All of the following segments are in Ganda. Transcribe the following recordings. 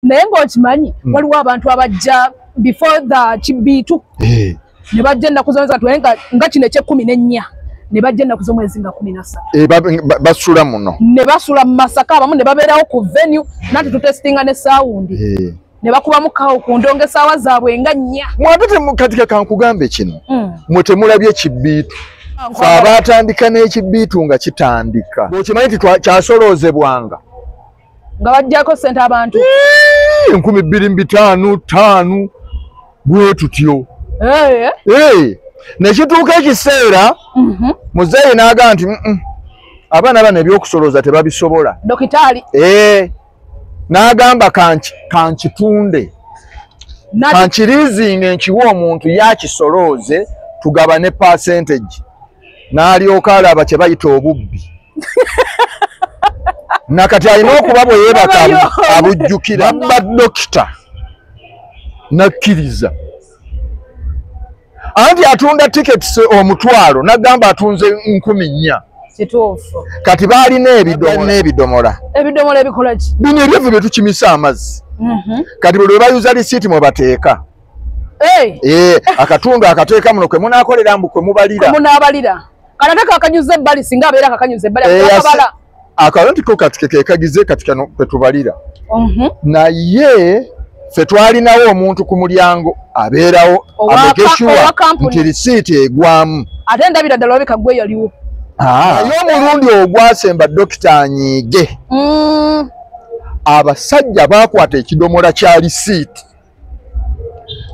naye ng'okimanyi hmm. waliwo abantu abajja before the kibiitu eh. ne bajja ennaku zona zatu nga nga kino ekyekkumi n'ennya ne bajja ennaku z'omwezi nga kumi na ssatu eh, basula muno ne basula mu masaka abamu ne babeerawo ku venue nati tutesitinga ne saawundi eh. ne bakubamu kawo ku ndongo esaawa zaabwe nga nnya mwate katika kankugambe kino hmm. mwe temulabye kibiitu fe abaatandika n'ekibiitu nga kitandika okimanyi nti kyasoloozebwanga nga bajjako sente abantu enkumi bbiri mu bitaano ttaano bwe tutyo eh, eh. nekituuka ekiseera mhm. muzeeyi n'aga nti abaana bano ebyokusolooza tebabisobola dokitaali n'agamba kankitunde kankirizinga enkiwa omuntu yakisolooze tugabane percentage n'alyoka alaba kye bayita obubbi nakati alina okuba bwe yeebaka abujjukira ba dokita nakkiriza anti atunda tikets omutwalo nagamba atunze nkumi nnya kituufu kati baalina ebidomola ebidomola ebidomola ebikolaki bino ebyevu bye tukimisa amazzi mhm. kati buli lwe bayuza lisiiti mwe bateeka Eh, akatundu akateeka muno kwe munaakolera mbu kwe mubalira munaabalira kana te kakanyuza ebbali singa abeera kakanyuza ebbali eh, akabala akalo nti ko kati kekekagize kati kano kwe tubalira mhm. naye fe twalinawo omuntu ku mulyango abeerawo amegeshuwa nti risiiti egwamu ate ndabira ddala olabika gwe yaliwo ah. naye omulundi ogwasemba dokita anyiige mm. abasajja baakwata ekidomola kya risiiti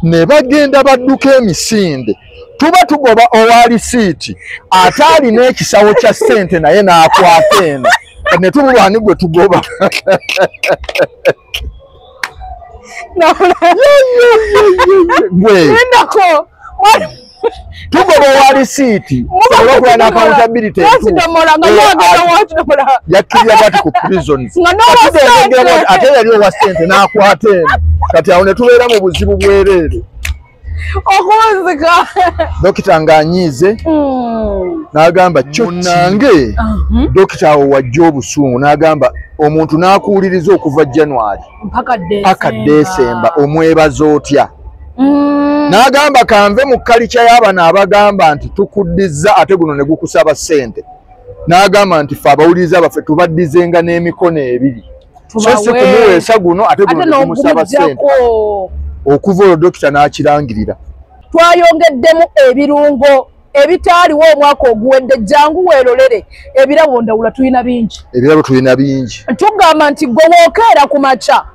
ne bagenda badduka emisinde tuba tugoba owa lisiiti ate alina ekisawo kya ssente naye n'akwata eno ne tumulwani gwe tugoba gwe tugoba owa lisiiti olwokuba nakawutabirite yakkirira bati ku prisons ate yali owa sente n'akwata eno kati awo ne tubeera mu buzibu bwereere okunzika dokita ng'anyiize hmm. n'agamba kyonange uh-huh. dokita awo wajja obusungu n'agamba omuntu n'akuwuliriza okuva january paka desemba omwebaza otya mm. n'agamba kanve mu kalica y'abano abagamba nti tukuddiza ate guno ne gukusaba ssente n'agamba nti fe abawuliriza baffe tubaddizenga n'emikono ebiri so si kumuweesa guno ate guno ne gumusaba ssente okuva olwo dokita n'akirangirira twayongeddemu ebirungo ebitaaliwo omwaka oguwedde jangu weerolere ebirabo ndawula tulina bingi ebirabo tulina bingi tugamba nti gwe wookeera ku makya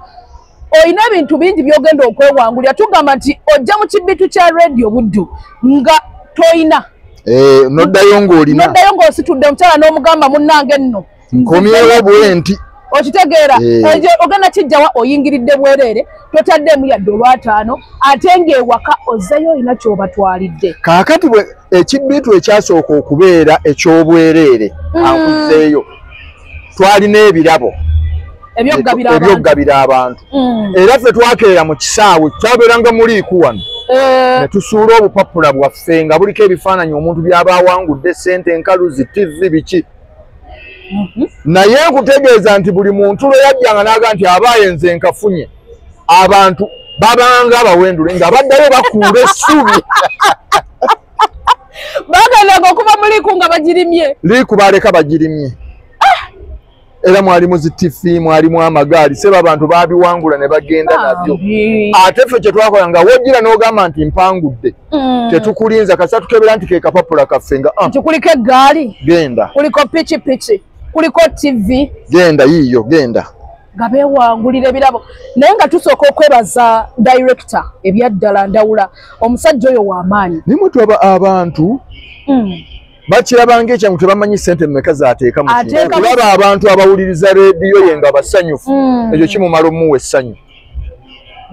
olina ebintu bingi byogenda okwewangulira tugamba nti ojja mu kibitu kya radio buddu nga tolina eh, noddayo ngaolina noddayo ngaositudde omukyala n'omugamba munnange nno nkomyewo bwenti okitegeera eh. ekyo ogenda kijjawa oyingiridde bwereere totaddemu yadde olwataano ate ngaewaka ozzeyo olina kyobatwalidde kaakati bwe ekibbitu ekyasooka okubeera ekyobwereere hmm. akuzeeyo twalina ebirabo ebyokugabira abantu hmm. era ffe twakeera mu kisaawe kyabeeranga muliiku wano eh. netusuula obupapula bwaffe nga buliko ebifaananyi omuntu byaba awangudde sente enkaluzi tivi biki mhm. naye nkutegeeza nti buli muntu lwe yajjanga naaga nti abaaye nze nkafunye abantu babanga abawendule nga baddayo bakuula essubi bagandaga okuba muliku nga bagirimye liku baleka bagirimye era mwalimu zitifi mwalimu amagaali seba abantu babiwangula ne bagenda nabyo ate ffe kyetwakola nga wojira n'ogamba nti mpangudde Mm. tetukulinza kasa tukebera nti kekapapula kaffe nga ah. nti kuliko eggaali genda kuliko pikipiki kuliko tv genda yiiyo genda nga bewangulira ebirabo naye nga tusooka okwebaza director ebyaddala ndawula omusajja oyo wamaanyi nimutwaba abantu mm. bakirabanga ekyangu tebamanyi sente mumeka zateeka mukulaba abantu abawuliriza rediyo ye nga basanyufu mm. ekyo kimumala omuwa essanyu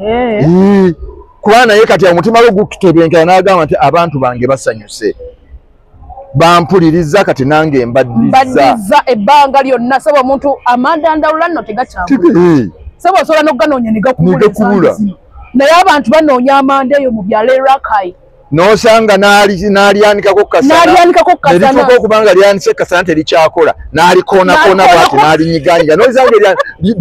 eh. eh, kuba naye kati omutima gwe gutebenkera n'agamba nti abantu bange basanyuse bampuliriza kati nange mbaddiza ebbanga lyonna saba omuntu amanda ndawula nno tegakyabula saba osobola n'okuganoonya negakubula naye abantu banoonya amanda eyo mu byalo erakai nosanga nalyanikako kukasanalituuka okubanga lyanise kasana terikyakola nalikoonakona bwati nalinyiganyira nosanga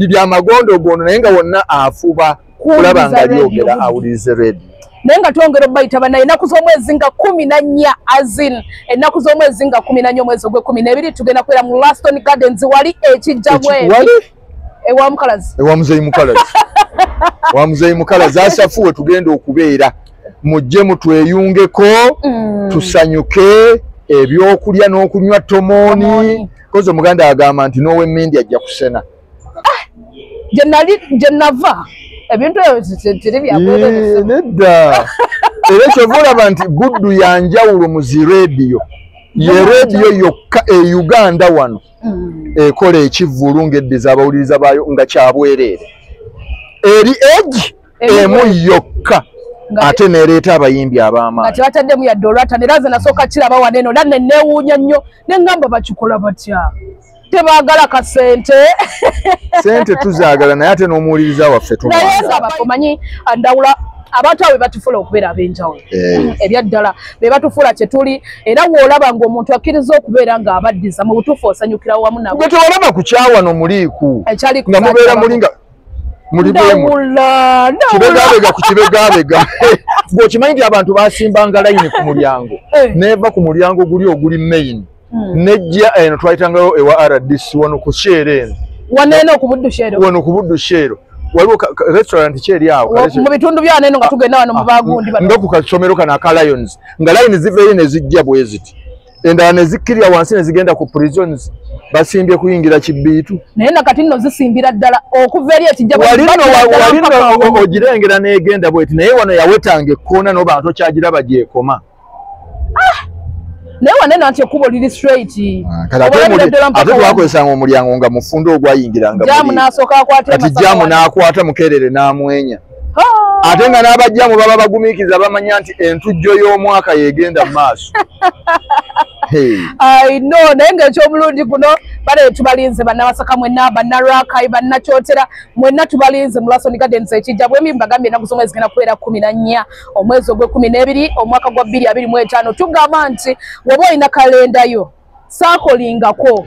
byamagondo ogondo naye nga wonna afuba kulaba nga lyogera awulirize redi naye nga twongera obayita banaye enaku z'omwezi nga kumi na nnya azin enaku z'omwezi nga kumi na nnya omwezi ogwekumi nebiri tugenda kubeera mu laston gardens wali ekijjamweri ewa mukalazi ewa muzeyi mukalazi wa muzeyi mukalazi asafuwe tugenda okubeera mujje mutweyungeko mm. tusanyuke ebyokulya n'okunywa tomoni kozi omuganda agamba nti nowemindi ajja kusena ah, gyenava ebintu ebyotirinedda era kyova olaba nti guddu yanjawulo muzi rediyo ye rediyo yokka e uganda wano mm. ekola ekivvulu ng'eddiza abawuliriza baayo nga kyabwereere eri egi emu yokka ate nereeta abayimbi ab'amaanyi tebataddemu yadde olwatana era nze nasooka kiraba wano eno era neneewuunya nnyo ne ngamba bakikola batya tebagala ka sente sente tuzaagala naye ate n'omuwuliriza waffe tumanyi ndawula abantu abo bebatufula okubeera ab'enjawulo eh. ebyaddala be batufuula kye tuli era woolaba ng'omuntu akkiriza okubeera ng'abaddiza mu butuufu osanyukira wamu nabo gwe tewalaba ku kyawa no muliiku nga mubeera mulinga mulibwemukibegabega ku kibegabega gweokimanyi nti abantu basimbanga layini ku mulyango eh. neeva ku mulyango guli oguli mayini hmm. nejja eno twayitangawo ewa rdc wano ku sheero eno wano eno ku buddu sheero wano ku buddu sheero waliwo restaurant kyeri awo mu bitundu byano eno nga tugenda wano mu bagundi ah, nga ku kasomero kano aka lions nga layini ziveeyo ne zijja bwe ziti endala ne zikkirira wansi ne zigenda ku prisons basimbye kuyingira kibbiitu naye nakati nno zisimbira ddala okuva eri ekijjawalino ogirengera n'egenda bweti naye wano yawetanga ekkoona n'obantu okyagiraba gyekoma ah! naye wane nanti ekkubo liri straightkatewakozesanga ah, omulyango nga mufunda ogwayingirangaati jamu n'akwata mukerere n'amwenya ah! ate nga n'abajjamu baba bagumiikiza bamanya nti entujjo y'omwaka yegenda mu maaso ino naye ngaekyomulundi guno bale tubalinze banabasaka mwena banarakai banakyotera mwena tubalinze mulasoni gardens ekijja bwembi mbagambye enaku zomwe zigenda kubeera kumi na nnya omwezi ogwekumi n'ebiri omwaka gwa bbiri abiri mu etaano tugamba nti waba olina kalendayo saakolingako